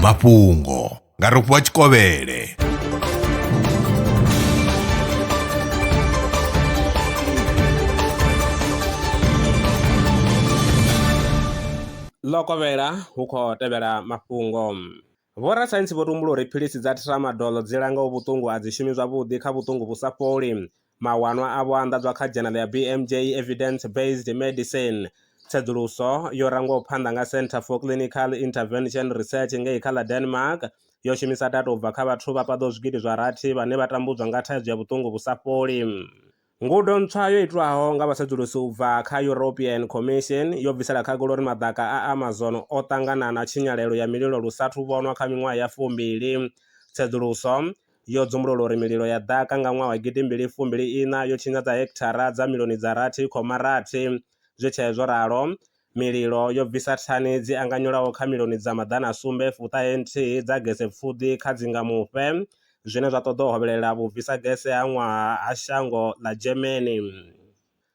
mafhungo nga rofhiwa tshikovhele ḽo kovhela hu khou tevhela mafhungo vhorasaintsi vho tumbula uri philisi dza tramadol dzi langa vhuṱungu a dzi shumi zwavhuḓi kha vhuṱungu vhu sa fholi Mawanwa avho a anḓadzwa kha dzhenala ya BMJ Evidence Based Medicine. Tsedzuluso yo rangwaho phanḓa nga Centre for Clinical Intervention Research ngei kha ḽa Denmark yo shumisa data u bva kha vhathu vha paḓaho zwigidi zwa rathi vhane vha tambudzwa nga thaidzo ya vhuṱungu vhu sa fholi. Ngudo ntswa yo itwaho nga vhasedzulusi u bva kha European Commission yo bvisela khagala uri maḓaka a Amazon o ṱangana na tshinyalelo ya mililo lu sathu vhonwa kha miṅwaha ya fumbili. Tsedzuluso yo dzumbulula uri mililo ya ḓaka nga ṅwaha wa gidi mbili fumbili iṋa yo tshinyadza hekithara dza milioni dza rathi khoma rathi. Zwi tshee zwo ralo, mililo yo bvisa thani dzi anganyelaho kha milioni dza maḓana a sumbe fu ṱahe nthihi dza gese pfuḓi kha dzingamufhe, zwine zwa ṱoḓa u hovhelela vhubvisa gese ha ṅwaha ha shango ḽa Germany.